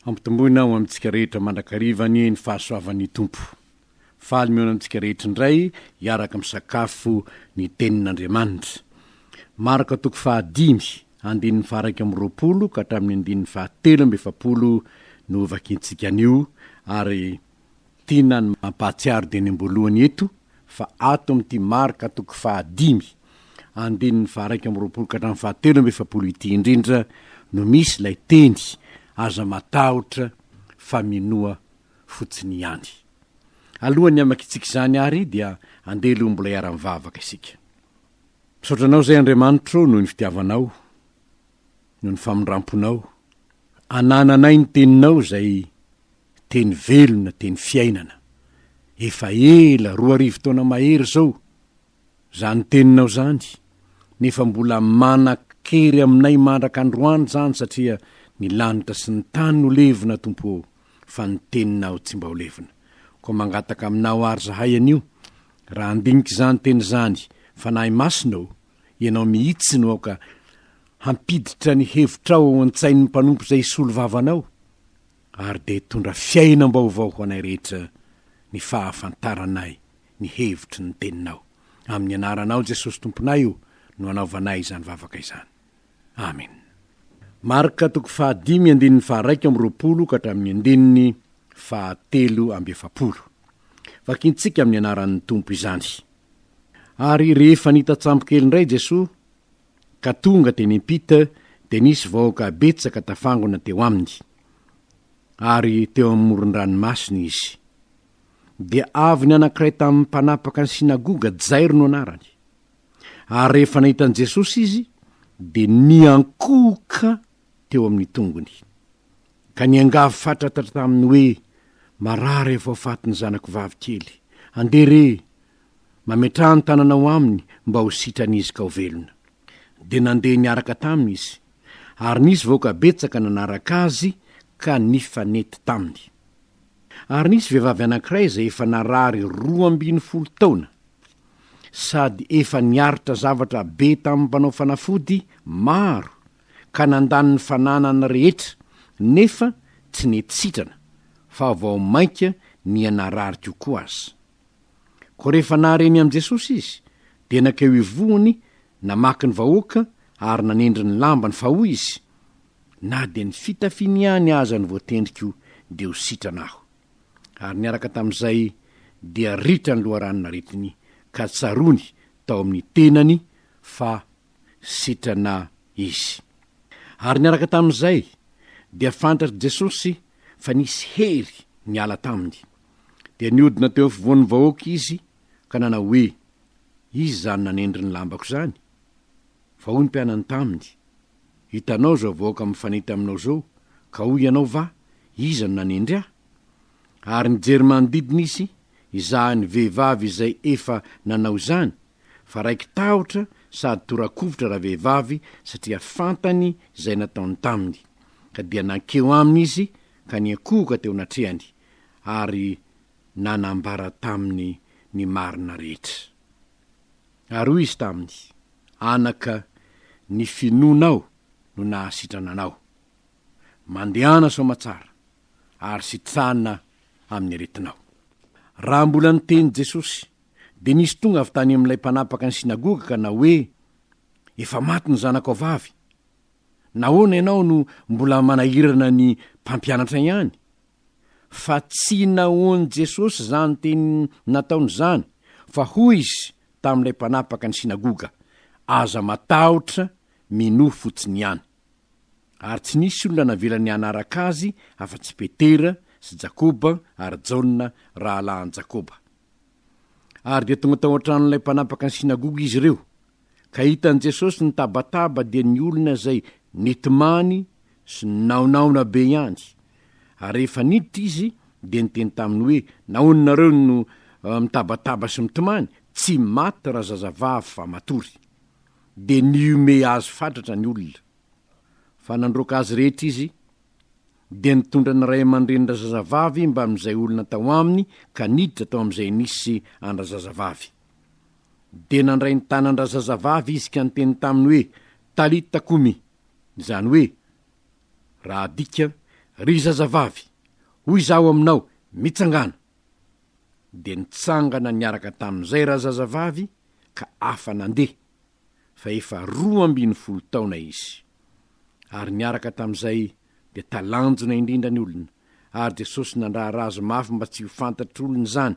Hampitomboina ho amintsika rehetra mandrakariva anie ny fahasoavan'ny Tompo. Faly mihaona amintsika rehetra indray hiaraka misakafo ny Tenin'Andriamanitra. Marka toko fahadimy, andininy faha-iraika amby roapolo ka hatramin'ny andininy fahatelo amby efapolo no vakintsika anio ary Tiana ny mampahatsiaro dieny am-boalohany eto fa ato amin'ity Marka toko fahadimy, andininy faha-iraika amby roapolo ka hatramin'ny fahatelo amby efapolo ity indrindra no misy ilay teny aza matahotra fa minoa fotsiny ihany. Alohan'ny hamaky tsika izany ary dia andeha aloha mbola hiara-mivavaka isika. Misaotra Anao izay Andriamanitro noho ny fitiavanao noho ny famindramponao, anananay ny teninao izay teny velona, teny fiainana. Efa ela, roa arivo taona mahery izao, izany teninao izany, nefa mbola manan-kery aminay mandraka androany izany satria ny lanitra sy ny tany no levona, Tompo ô, fa ny teninao tsy mba ho levona. Koa mangataka aminao àry izahay anio, raha handinika izany teny izany, Fanahy Masina ô, ianao mihitsy no aoka Hampiditra ny hevitrao ao an-tsain'ny mpanompo izay hisolo vava anao, ary dia hitondra fiainam-baovao ho anay rehetra ny fahafantaranay ny hevitry ny Teninao. Amin'ny Anaranao Jesosy Tomponay o no anaovanay izany vavaka izany. Amena. Marka toko fahadimy andininy faharaika amby roapolo ka hatramin'ny andininy fahatelo amby efapolo. Vakintsika amin'ny Anaran'ny Tompo izany. Ary rehefa nita-tsambokely indray Jesoa, ka tonga teny am-pita dia nisy vahoaka betsaka tafangona teo aminy, ary teo amin'ny moron-dranomasina izy. Dia avy ny anankiray tamin'ny mpanapaka ny sinagoga, Jairo no anarany. Ary rehefa nahita an'i Jesosy izy, dia niankohoka teo amin'ny tongony, ka niangavy fatratra taminy hoe, Marary avy ao faty ny zanako vavikely. Andeha re! Mametraha ny tananao aminy mba ho sitran'izy ka ho velona. Dia nandeha niaraka taminy izy. Ary nisy vahoaka betsaka nanaraka azy ka nifanety taminy. Ary nisy vehivavy anankiray izay efa narary roa ambin'ny folo taona, sady efa niaritra zavatra be tamin'ny mpanao fanafody maro ka nandany ny fananany rehetra, nefa tsy nety sitrana, fa vao mainka niha narary kokoa aza. Koa rehefa nahareny an'i Jesosy izy, dia nankeo ivohony, namaky ny vahoaka ary nanendry ny lambany, fa hoy izy, Na dia ny fitafiny ihany aza no voatendriko, dia ho sitrana aho. Ary niaraka tamin'izay, dia ritra ny loharanon'aretiny, ka tsaroany tao amin'ny tenany fa sitrana izy. Ary niaraka tamin'izay, dia fantatr'i Jesosy fa nisy hery niala taminy. Dia nihodina teo afovoan'ny vahoaka izy ka nanao hoe, Iza izany nanendry ny lambako izany? Fa hoy ny mpianany taminy, Hitanao izao vahoaka mifanita aminao izao, ka hoy ianao va, Iza no nanendry ahy? Ary nijery manodidina izy hizaha ny vehivavy izay efa nanao izany, fa raiki-tahotra sady tora-kovitra ravehivavy satria fantany izay nataony taminy, ka dia nankeo aminy izy ka niankohoka teo anatrehany, ary nanambara taminy ny marina rehetra. Ary hoy izy taminy, Anaka, ny finoanao no nahasitrana anao. Mandehana soamatsara, ary sitrana amin'ny aretinao. Raha mbola niteny Jesosy, dia nisy tonga avy tany amin'ilay mpanapaka ny synagoga ka nahoe, Efa maty ny zanakao vavy. Nahoana ianao no mbola manahirana ny mpampianatra ihany? Fa tsy nahoan'i Jesosy izany teny nataony izany, fa hoy izy tamin'ilay mpanapaka ny sinagoga, Aza matahotra, minoa fotsiny ihany. Ary tsy nisy olona navela ny hanaraka azy afa-tsy Petera sy Jakoba ary Jaona rahalahin'i Jakoba. Ary dia tonga tao an-tranon'ilay mpanapaka ny sinagoga izy ireo. Ka hitan'i Jesosy nitabataba dia ny olona izay nitomany sy ninaonaona be ihany. Ary rehefa niditra izy dia niteny taminy hoe, Nahoana nareo no mitabataba sy mitomany? Tsy maty razazavavy fa matory. Dia nihomehy azy fatratra ny olona. Fa nandroaka azy rehetra izy, dia nitondra ny ray aman-dreny razazavavy mbamin'izay olona tao aminy ka niditra tao amin'izay nisy an-drazazavavy. Dia nandray ny tanan-drazazavavy izy ka niteny taminy hoe, Talita kumi, izany hoe, raha adika, Ry zazavavy, hoy izaho aminao, mitsangàna! Dia nitsangana niaraka tamin'izay razazavavy ka afa-nandeha, fa efa roa ambin'ny folo taona izy. Ary niaraka tamin'izay dia talanjona indrindra ny olona, ary Jesosy nandrara azy mafy mba tsy ho fantatr'olona izany,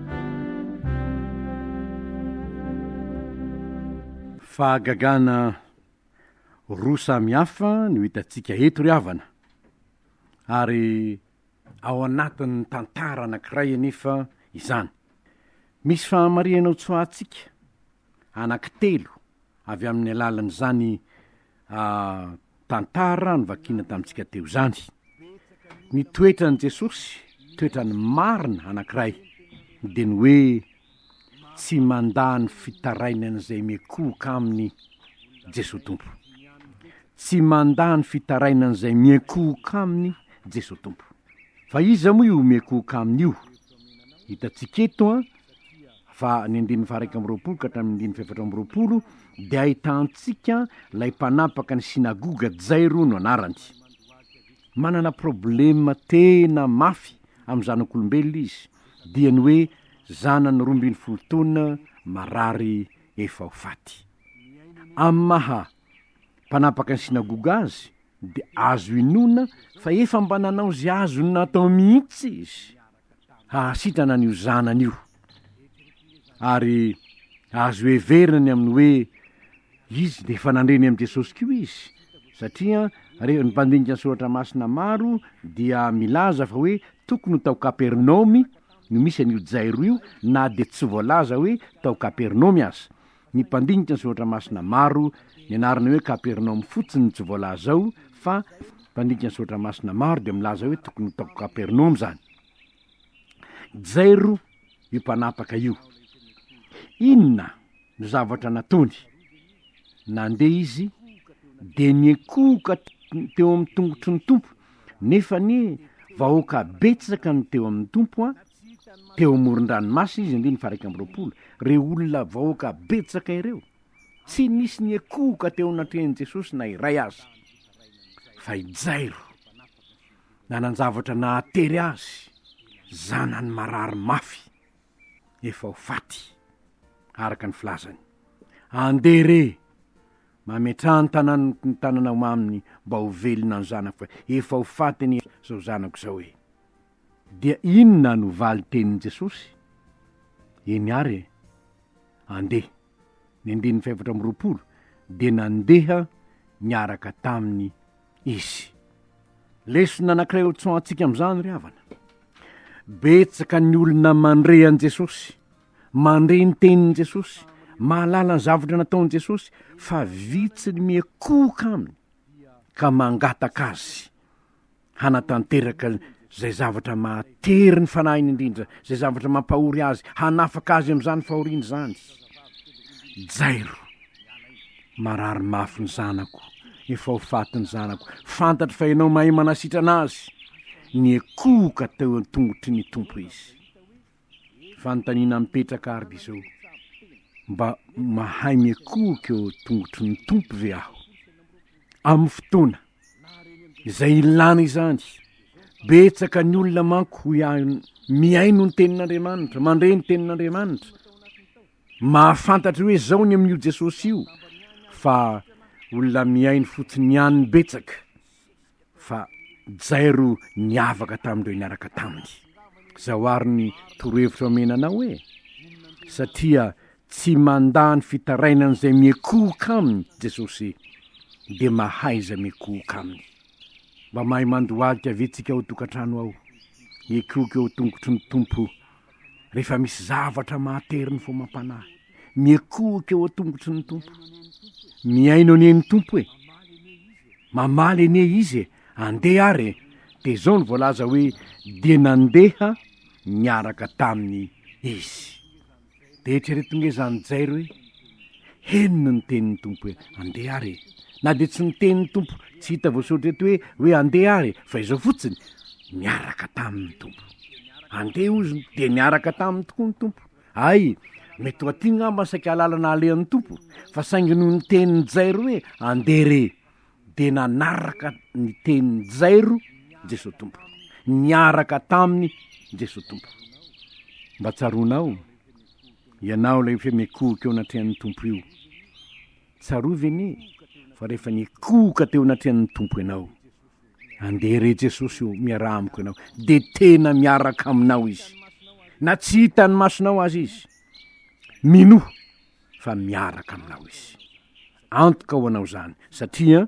Fahagagana roa samy hafa no hitantsika eto ry havana, ary ao anatin'ny tantara anankiray anefa izany. Misy fahamarihana hotsoahantsika anankitelo avy amin'ny alalan'izany Tantara novakina tamintsika teo izany. Ny toetran'i Jesosy, toetrany marina anankiray, dia ny hoe tsy mandà ny fitarainan'izay miekohoka aminy Jesosy Tompo. Tsy mandà ny fitarainan'izay miekohoka aminy Jesosy Tompo. Fa iza moa io miekohoka aminy io? Hitantsika eto fa ny andininy faha-iraika amby roapolo ka hatramin'ny andininy fahefatra amby roapolo dia ahitantsika ilay mpanapaka ny synagoga, Jairo no anarany. Manana problema tena mafy amin'ny zanak'olombelona izy, dia ny hoe zanany roa ambin'ny folo taona marary efa ho faty. Amin'ny maha mpanapaka ny synagoga azy, dia azo inoana fa efa mba nanao izay azony natao mihitsy izy. hahasitrana an'io zanany io, ary azo heverina ny amin'ny hoe izy dia efa nandre ny amin'i Jesosy koa izy, satria rehefa ny mpandinika ny Soratra Masina maro dia milaza fa hoe tokony ho tao Kapernaomy no misy an'io Jairo io na dia tsy voalaza hoe tao Kapernaomy aza. Ny mpandinika ny soratra masina maro, nianarana hoe Kapernaomy fotsiny no tsy voalaza ao, fa mpandinika ny soratra masina maro dia milaza hoe tokony ho tao Kapernaomy izany. Jairo io mpanapaka io. Inona no zavatra nataony? Nandeha izy dia nikohoka teo amin'ny tongotry ny Tompo, nefa anie vahoaka betsaka no teo amin'ny Tompo an, teo amoron-dranomasina izy andininy faharaika amby roapolo, ireo olona vahoaka betsaka ireo, tsy nisy niakohoka teo anatrehan'i Jesosy na iray aza, fa i Jairo, nanan-javatra nahatery azy, zanany marary mafy, efa ho faty, araka ny filazany. Andeha re! Mametraha ny tananao ny tananao aminy mba ho velona ny zanako, fa efa ho faty anie izao zanako izao e! Dia inona no valin-tenin'i Jesosy? Eny àry e! Andeha! Ny andininy fahefatra amby roapolo, Dia nandeha niaraka taminy Izy. Lesona anankiray ho tsoahantsika amin'izany, ry havana. Betsaka ny olona mandre an'i Jesosy, mandre ny tenin'i Jesosy, mahalala ny zavatra nataon'i Jesosy, fa vitsy ny miakohoka Aminy, ka mangataka Azy. hanatanteraka izay zavatra mahatery ny fanahiny indrindra, izay zavatra mampahory azy, hanafaka azy amin'izany fahoriana izany. Jairo, marary mafy ny zanako, efa ho faty ny zanako, fantatro fa ianao mahay manasitrana azy, niekohoka teo an-tongotry ny Tompo izy. Fanontaniana mipetraka arb izao, mba mahay miakohoka eo tongotry ny Tompo ve aho? Amin'ny fotoana izay ilana izany. Betsaka ny olona manko hoy ahy mihaino ny tenin'Andriamanitra, mandre ny tenin'Andriamanitra, mahafantatra hoe zao ny amin'io Jesosy io fa olona mihaino fotsiny ihany betsaka fa jairo niavaka tamin'ireo niaraka taminy. Zao ary ny torohevitra omena anao hoe, satria tsy mandà ny fitarainan'izay miekohoka aminy Jesosy, dia mahaiza miekohoka aminy. Mba mahay mandohalika ve tsika ao an-tokantrano ao? Miekohoka eo an-tongotry ny Tompo rehefa misy zavatra mahatery ny fomam-panahy, miekohoka eo an-tongotry ny Tompo. Mihaino anie ny Tompo e! Mamaly anie Izy e! Andeha ary e! Dia izao no voalaza hoe, dia nandeha niaraka taminy Izy. Dia eritrereto nge izany Jairo hoe, Henony ny tenin'ny Tompo hoe, Andeha ary e! Na dia tsy ny tenin'ny Tompo tsy hita voasoratra eto hoe, hoe andeha ary e! fa izao fotsiny, Niaraka taminy ny Tompo. Andeha, hozy, no dia niaraka taminy tokoa ny Tompo. Hay! Mety ho aty ngamba ny saika alalana alehan'ny Tompo, fa saingy noho ny tenin'i Jairo hoe, Andeha re! dia nanaraka ny tenin'i Jairo Jesoa Tompo. Niaraka taminy Jesoa Tompo. Mba tsaroanao? Ianao ilay efa mikohoka eo anatrehan'ny Tompo io. Tsarovy anie fa rehefa nikohoka teo anatrehan'ny Tompo ianao, andeha re Jesosy ô, miaraha amiko ianao, dia tena miaraka aminao Izy. Na tsy hitan'ny masonao aza Izy, minoa fa miaraka aminao Izy. Antoka ho anao izany, satria.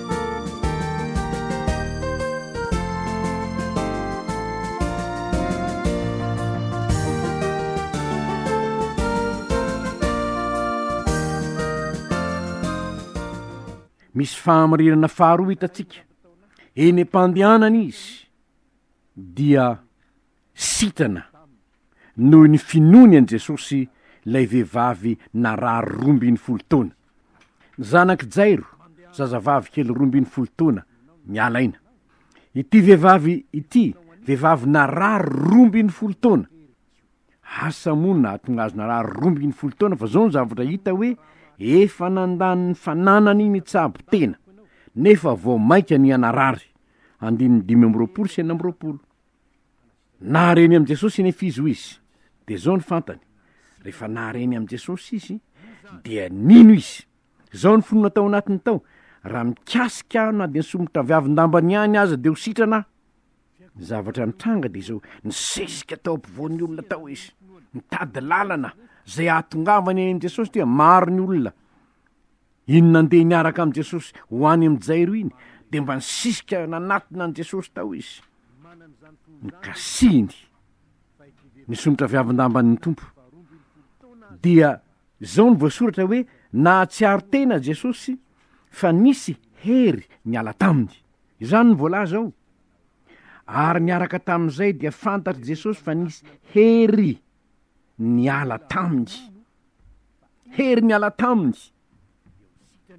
misy fahamarinana faharoa hitantsika eny am-pandehanana izy dia Sitana, noho ny finoany an'i Jesosy, ilay vehivavy narary roa ambin'ny folo taona. Ny zanak'i Jairo, zazavavy kely roa ambin'ny folo taona, miala aina. Ity vehivavy ity, vehivavy narary roa ambin'ny folo taona. Asa moa ny nahatonga azy narary roa ambin'ny folo taona fa izao ny zavatra hita hoe efa nandany ny fananany nitsabo tena, nefa vao mainka niha-narary. Andininy dimy amby roapolo sy enina amby roapolo. Nahare ny amin'i Jesosy anefa izy, hoy izy. Dia izao no fantany, rehefa nahare ny amin'i Jesosy izy, dia nino izy. Izao no finoana tao anatiny tao, raha mikasika aho na dia ny somotra viavin-dambany ihany aza dia ho sitrana aho. Ny zavatra nitranga dia izao, nisesika tao ampovoan'ny olona tao izy, nitady lalana izay hahatongavany any amin'i Jesosy, dia maro ny olona Iny nandeha niaraka amin'i Jesosy ho any amin'i Jairo iny, dia mba nisisika nanatona an'i Jesosy tao izy. Nikasihiny ny somotra viavin-damban'ny Tompo. Dia izao ny voasoratra hoe nahatsiaro tena Jesosy fa nisy hery niala taminy. Izany ny voalaza ao. Ary niaraka tamin'izay dia fantatr'i Jesosy fa nisy hery niala taminy. Hery miala taminy.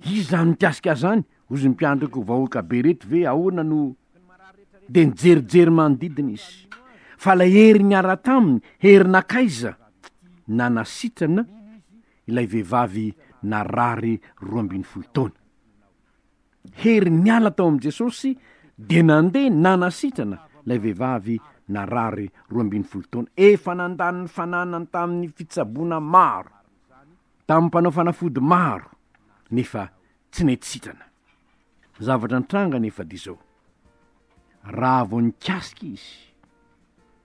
Izy zany mikasika zany, ozy mpiandroko vahoaka be reto ve ahoana no de nijerijery manodidina izy. Fa lay hery niala taminy, hery nakaiza? Nanasitrana ilay vehivavy narary roa ambin'ny folo taona. hery niala tao amin'i Jesosy dia nandeha nanasitrana ilay vehivavy narary roa ambin'ny folo taona efa nandany ny fananany tamin'ny fitsaboana maro, tamin'ny mpanao fanafody maro, nefa tsy nety sitrana. Ny zavatra nitranga nefa dia izao, raha vao nikasika izy,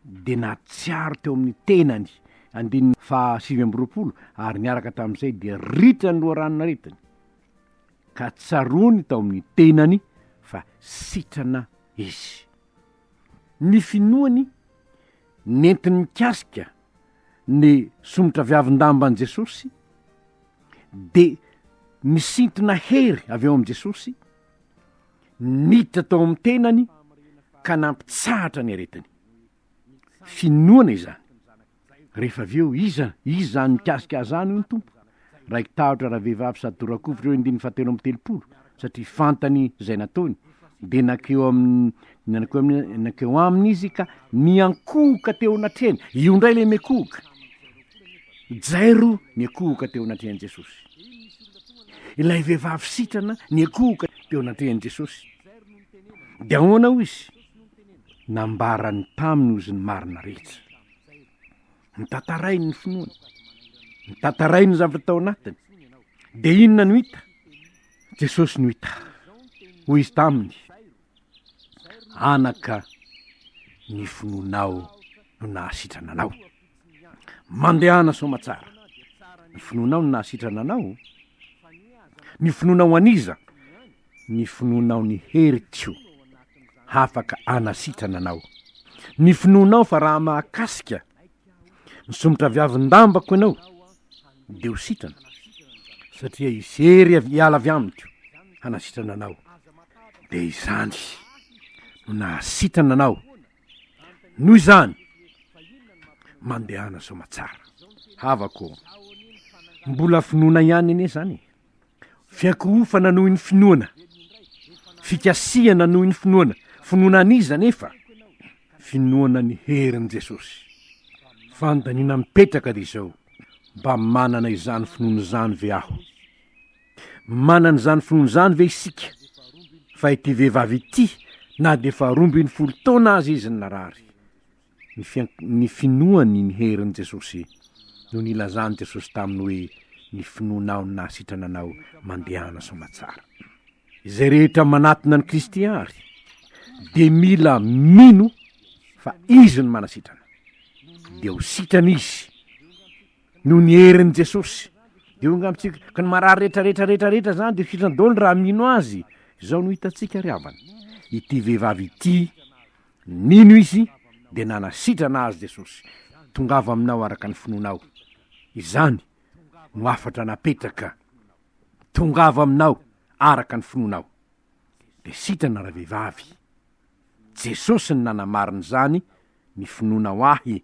dia natsiaro teo amin'ny tenany, andininy faha sivy amby roapolo, ary niaraka tamin'izay dia ritra ny loharanon' aretina. ka tsaroany tao amin'ny tenany fa sitrana izy. Ny finoany nentiny mikasika ny somotraviavin-damban'i Jesosy dia nisintona hery avy ao amin'i Jesosy, niditra tao amin'ny tenany ka nampitsahatra ny aretiny. Finoana izany. Rehefa avy eo, iza? Iza izany mikasika ahy izany, hoy ny Tompo? Raiki-tahotra ravehivavy sady tora-kofy ireo andininy fahatelo amby telopolo, satria fantany izay nataony. Dia nankeo aminy, nankeo aminy, nankeo aminy izy ka niankohoka teo anatrehany. Io indray ilay miankohoka. Jairo niankohoka teo anatrehan'i Jesosy. Ilay vehivavy sitrana niankohoka teo anatrehan'i Jesosy. Dia ahoana hoy izy? Nambarany taminy hozy ny marina rehetra. ny tantarainy ny finoany, ny tantarainy ny zavatra tao anatiny, dia inona no hita? Jesosy no hita, hoy izy taminy, anaka ny finoanao no nahasitrana anao, mandehana soamatsara, ny finoanao no nahasitrana anao, ny finoanao an'iza? Ny finoanao ny heriko hafaka anasitrana anao. Ny finoanao fa raha mahakasika ny somotra viavin-dambako ianao dia ho sitrana, satria hisery avy hiala avy amiko hanasitrana anao. Dia izany no nahasitrana anao. Noho izany, mandehana soamatsara. Havako ô, mbola finoana ihany anie izany e. Fiankohofana noho ny finoana. Fikasihana noho ny finoana. Finoana an'iza anefa? Finoana ny herin'i Jesosy. Fanontaniana mipetraka ry izao, mba manana izany finoana izany ve aho? Manana izany finoana izany ve isika fa ity vehivavy ity na dia faharoa ambin'ny folo taona aza izy ny narary? ny finoany ny herin'i Jesosy, noho ny ilazan'i Jesosy taminy hoe, Ny finoanao no nahasitrana anao, mandehana soamatsara. Izay rehetra manatona an'i Kristy àry, dia mila mino fa Izy no manasitrana. Dia ho sitrana izy, noho ny herin'i Jesosy. Dia onga amintsika, ka ny marary rehetra, rehetra, rehetra, rehetra izany dia ho sitrana daholo raha mino Azy. Izao no hitantsika ry havana, ity vehivavy ity, Nino izy dia nanasitrana azy Jesosy, Tongava aminao araka ny finoanao. Izany no hafatra napetraka, Tongava aminao araka ny finoanao. Dia sitrana ravehivavy. Jesosy no nanamarina izany, Ny finoanao Ahy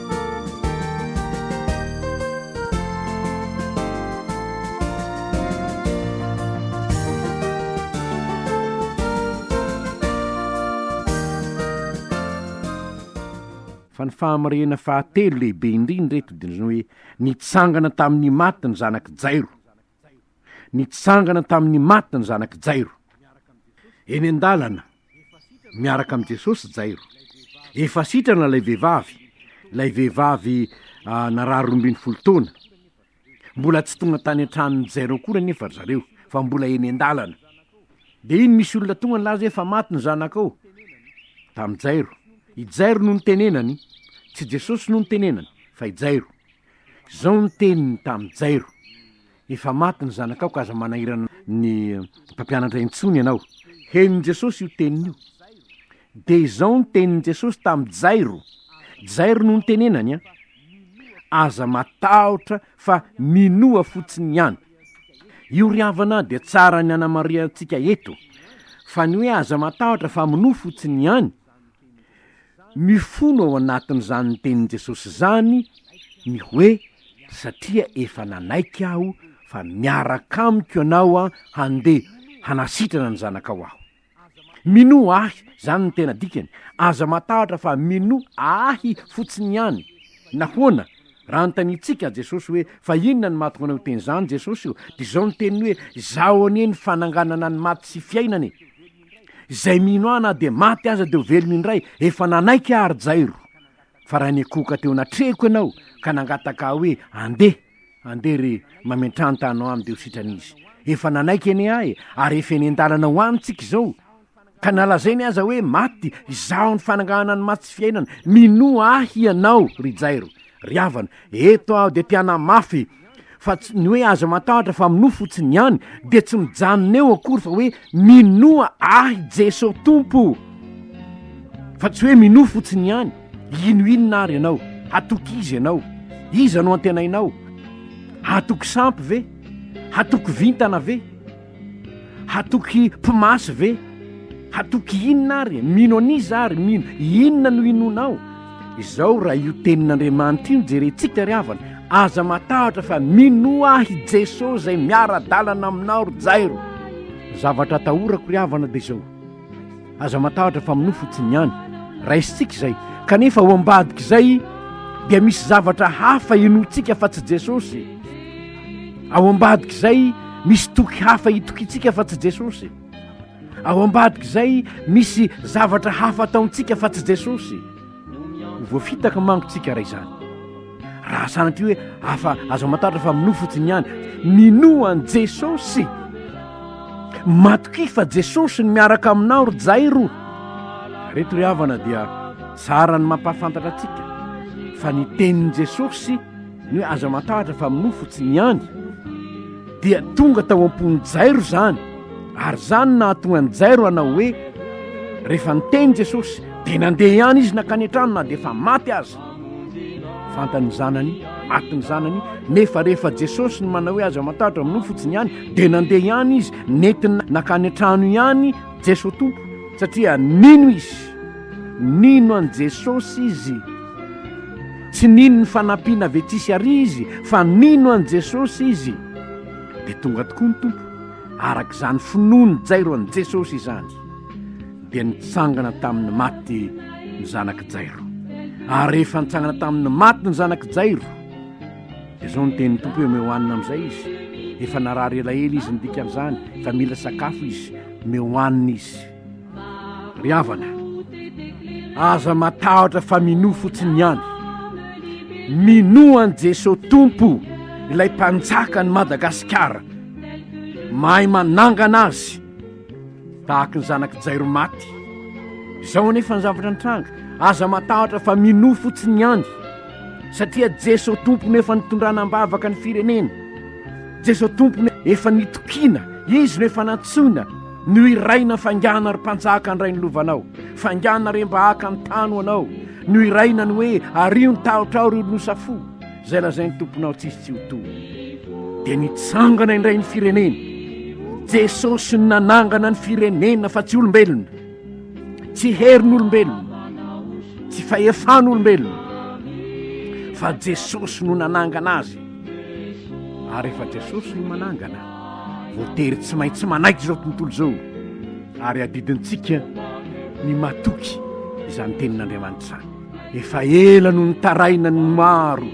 fa ny fahamariana fahatelo lehibe indrindra eto dia ny hoe nitsangana tamin'ny maty ny zanak'i jairo Nitsangana tamin'ny maty ny zanak'i Jairo. Eny an-dalana, miaraka amin'i Jesosy i Jairo. Efa sitrana ilay vehivavy, ilay vehivavy ah, narary roa ambin'ny folo taona. Mbola tsy tonga tany an-tranon'i Jairo akory anefa ry zareo, fa mbola eny an-dalana. Dia iny misy olona tonga nilaza hoe efa maty ny zanakao. Tamin'i Jairo. I Jairo no nitenenany. Tsy Jesosy no nitenenany, fa i Jairo. Izao ny teniny tamin'i Jairo, Efa maty ny zanakao ka aza manahirana ny mpampianatra intsony ianao. Henon'i Jesosy io teniny io. Dia izao ny tenin'i Jesosy tamin'i Jairo, Jairo no nitenenany an! Aza matahotra fa minoa fotsiny ihany. Io ry havana dia tsara ny hanamarihantsika eto fa ny hoe aza matahotra fa minoa fotsiny ihany Mifono ao anatin'izany ny tenin'i Jesosy izany ny hoe, Satria efa nanaiky aho fa miaraka amiko ianao handeha hanasitrana ny zanakao aho. Minoa ahy, izany no tena dikany. Aza matahotra fa minoa ahy fotsiny ihany. Nahoana? Raha anontaniantsika Jesosy hoe, Fa inona no mahatonga anao hiteny izany, Jesosy ô? Dia izao ny teniny hoe, Izaho anie ny fananganana ny maty sy fiainana e. Izay mino ahy na dia maty aza dia ho velona indray, efa nanaiky aho ry Jairo. Fa raha nikohoka teo anatrehiko ianao ka nangataka ahy hoe, 'Andeha, andeha re, mamentrany tano aminy dia ho sitrana izy. Efa nanaiky anie ahy, ary efa eny an-dalana ho any tsika izao. Ka nalazainy aza hoe maty, izaho ny fanangahana ny maty sy fiainana. Minoa ahy ianao, ry Jairo, ry havana, eto aho dia te-hanamafy, fa tsy ny hoe aza matahotra fa minoa fotsiny ihany dia tsy mijanona eo akory fa hoe minoa ahy Jeso Tompo fa tsy hoe minoa fotsiny ihany ino inona ary ianao hatoky izy ianao iza no antenainao hatoky sampy ve hatoky vintana ve Hatoky mpimasy ve? Hatoky inona ary? Mino an'iza ary? Mino inona no inonao? Izao raha io tenin'Andriamanitra io no jerentsika ry havana, aza matahotra fa minoa ahy i Jesoa izay miara-dalana aminao ry Jairo. Zavatra atahorako ry havana dia izao, Aza matahotra fa minoa fotsiny ihany. Raisintsika izay. Kanefa ao ambadik'izay dia misy zavatra hafa inoantsika fa tsy Jesosy. Ao ambadik'izay misy toky hafa itokintsika fa tsy Jesosy. Ao ambadik'izay misy zavatra hafa ataontsika fa tsy Jesosy. Ho voafitaka manko tsika raha izany. Raha sanatria hoe afa azo amantaratra fa minoa fotsiny ihany, minoa an'i Jesosy. Matokia fa Jesosy ny miaraka aminao ry Jairo. Reto ry havana dia tsara ny mampahafantatra antsika fa ny tenin'i Jesosy ny hoe azo amantaratra fa minoa fotsiny ihany. dia tonga tao am-pon'i Jairo izany, ary izany nahatonga an'i Jairo hanao hoe, rehefa niteny Jesosy, dia nandeha ihany izy nankany an-trano na dia efa maty aza. Fantany ny zanany, maty ny zanany, nefa rehefa Jesosy ny manao hoe aza matahotra minoa fotsiny ihany, dia nandeha ihany izy nentiny nankany an-trano ihany Jesosy Tompo, satria nino izy. Nino an'i Jesosy izy. Tsy nino ny fanampiana avy etsy sy arỳ izy, fa nino an'i Jesosy izy, dia tonga tokoa ny Tompo. Araka izany finoan'i Jairo an'i Jesosy izany, dia nitsangana tamin'ny maty ny zanak'i Jairo. Ary rehefa nitsangana tamin'ny maty ny zanak'i Jairo, dia izao ny tenin'ny Tompo hoe, Omeo hanina amin'izay izy. Efa narary elaela izy, ny dikan'izany, efa mila sakafo izy. Omeo hanina izy. Ry havana, aza matahotra fa minoa fotsiny ihany. Minoa an'i Jesoa Tompo, ilay mpanjaka an'i Madagasikara. Mahay manangana azy, tahaka ny zanak'i Jairo maty. Izao anefa ny zavatra nitranga, aza matahotra fa minoa fotsiny ihany. Satria Jesoa Tompo no efa nitondrana am-bavaka ny firenena. Jesoa Tompo no efa nitokiana, Izy no efa nantsoina. Nohiraina faingana ry mpanjaka handray ny lovanao, faingana re mba haka ny tany ho anao, nohiraina ny hoe ario ny tahotra ao ry olonosa fo, izay lazain'ny tomponao tsisy tsy ho toa. Dia nitsangana indray ny firenena. Jesosy no nanangana ny firenena fa tsy olombelona, tsy herin'olombelona, tsy fahefan'olombelona, fa Jesosy no nanangana azy, ary efa Jesosy no manangana. Voatery tsy maintsy manaiky izao tontolo izao ary adidintsika ny matoky izany tenin'Andriamanitra izany. Efa ela no nitaraina ny maro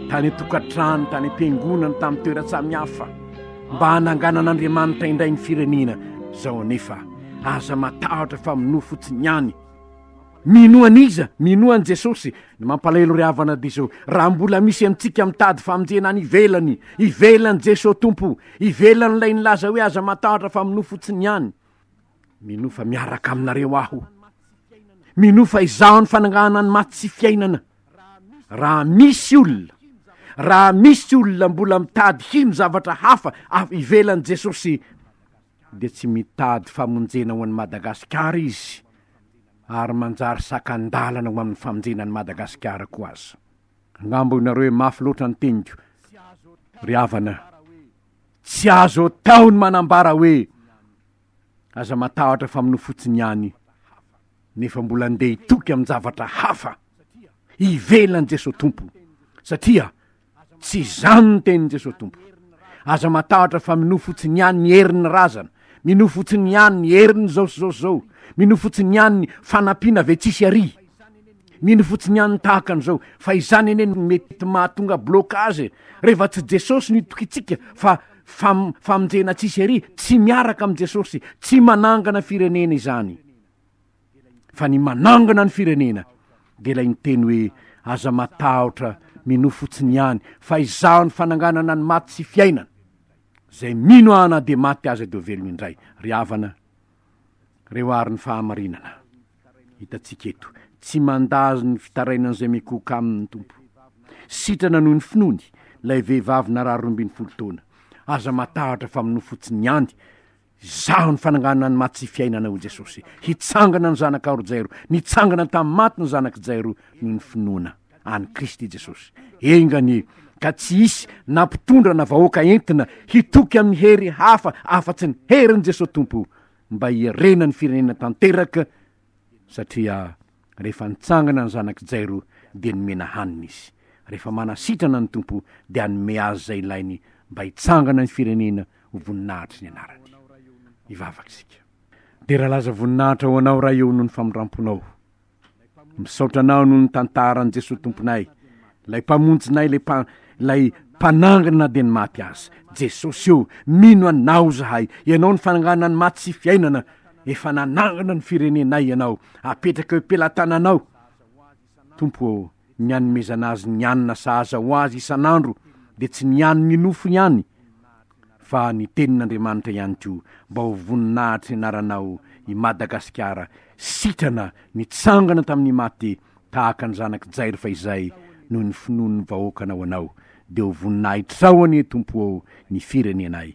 tany an-tokantrano, tany am-piangonana, tamin'ny toeran-tsamihafa mba hananganan'Andriamanitra indray ny firenena izao anefa aza matahotra fa minoa fotsiny ihany. Minoa an'iza? Minoa an'i Jesosy. Ny mampalahelo ry havana dia izao, raha mbola misy amintsika mitady famonjena any ivelany, ivelan'i Jesosy Tompo, ivelan'ilay nilaza hoe aza matahotra fa minoa fotsiny ihany. Minoa fa miaraka aminareo aho. Minoa fa izaho ny fanangahana ny maty sy fiainana. Raha misy olona, raha misy olona mbola mitady hino zavatra hafa ivelan'i Jesosy, dia tsy mitady famonjena ho an'i Madagasikara izy ary manjary sakan-dalana ho amin'ny famonjena an'i Madagasikara koa aza. Angamba hoy nareo hoe mafy loatra ny teniko. Ry havana, tsy azo atao ny manambara hoe aza matahotra fa minoa fotsiny ihany nefa mbola handeha hitoky amin-javatra hafa ivelan'i Jesoa Tompo satria Tsy izany ny tenin'i Jesosy Tompo. Aza matahotra fa minoa fotsiny ihany ny herin'ny razana, minoa fotsiny ihany ny herin'ny zao sy zao sy zao, minoa fotsiny ihany ny fanampiana ve tsisy ary. Mino fotsiny ihany tahaka an'izao, fa izany anie no mety mahatonga blocage e. Rehefa tsy Jesosy no itokintsika fa fam, famonjena tsisy ary, tsy miaraka amin'i Jesosy, tsy manangana firenena izany. fa ny manangana ny firenena de ilay miteny hoe aza matahotra minoa fotsiny ihany fa izaho ny fananganana ny maty sy fiainana zay mino aho na de maty aza de velona indray ry havana reo ary ny fahamarinana hitatsika eto tsy mandazo ny fitarainany zay mikoka aminy tompo sitrana noho ny finoany lay vehivavy narary rombiny folo taona aza matahotra fa minoa fotsiny ihany Izaho ny fananganana ny maty sy fiainana hoy Jesosy. Hitsangana ny zanaka aro Jairo. Nitsangana tamin'ny maty ny zanak'i Jairo noho ny finoana an'i Kristy Jesosy. Enga anie ka tsy hisy na mpitondra na vahoaka entina hitoky amin'ny hery hafa afa-tsy ny herin'i Jesosy Tompo mba hiarena ny firenena tanteraka satria Rehefa nitsangana ny zanak'i Jairo, dia nomena hanina izy. Rehefa manasitrana ny Tompo, dia hanome azy izay ilainy mba hitsangana ny firenena ho voninahitry ny anarany. Hivavaka isika. Dera laza voninahitra ho Anao, Ray ô, noho ny famindram-ponao. Misaotra Anao noho ny tantara an'i Jesoa Tomponay, Ilay Mpamonjinay, ilay mpa, ilay Mpanangana dia ny maty azy. Jesosy io, mino Anao izahay. Ianao no fanangana ny maty sy fiainana. Efa nanangana ny firenenay Ianao. Apetraka eo am-pelatananao, Tompo ô, ny anomezana azy ny hanina sahaza ho azy isan'andro, dia tsy ny hanin'ny nofo ihany, fa ny Tenin'Andriamanitra ihany koa, mba ho voninahitr'Anaranao i Madagasikara, sitrana nitsangana tamin'ny maty, tahaka ny zanak'i Jairfa izay noho ny finoan'ny vahoakanao anao, dia ho voninahitrao anie Tompo ô ny firenenay.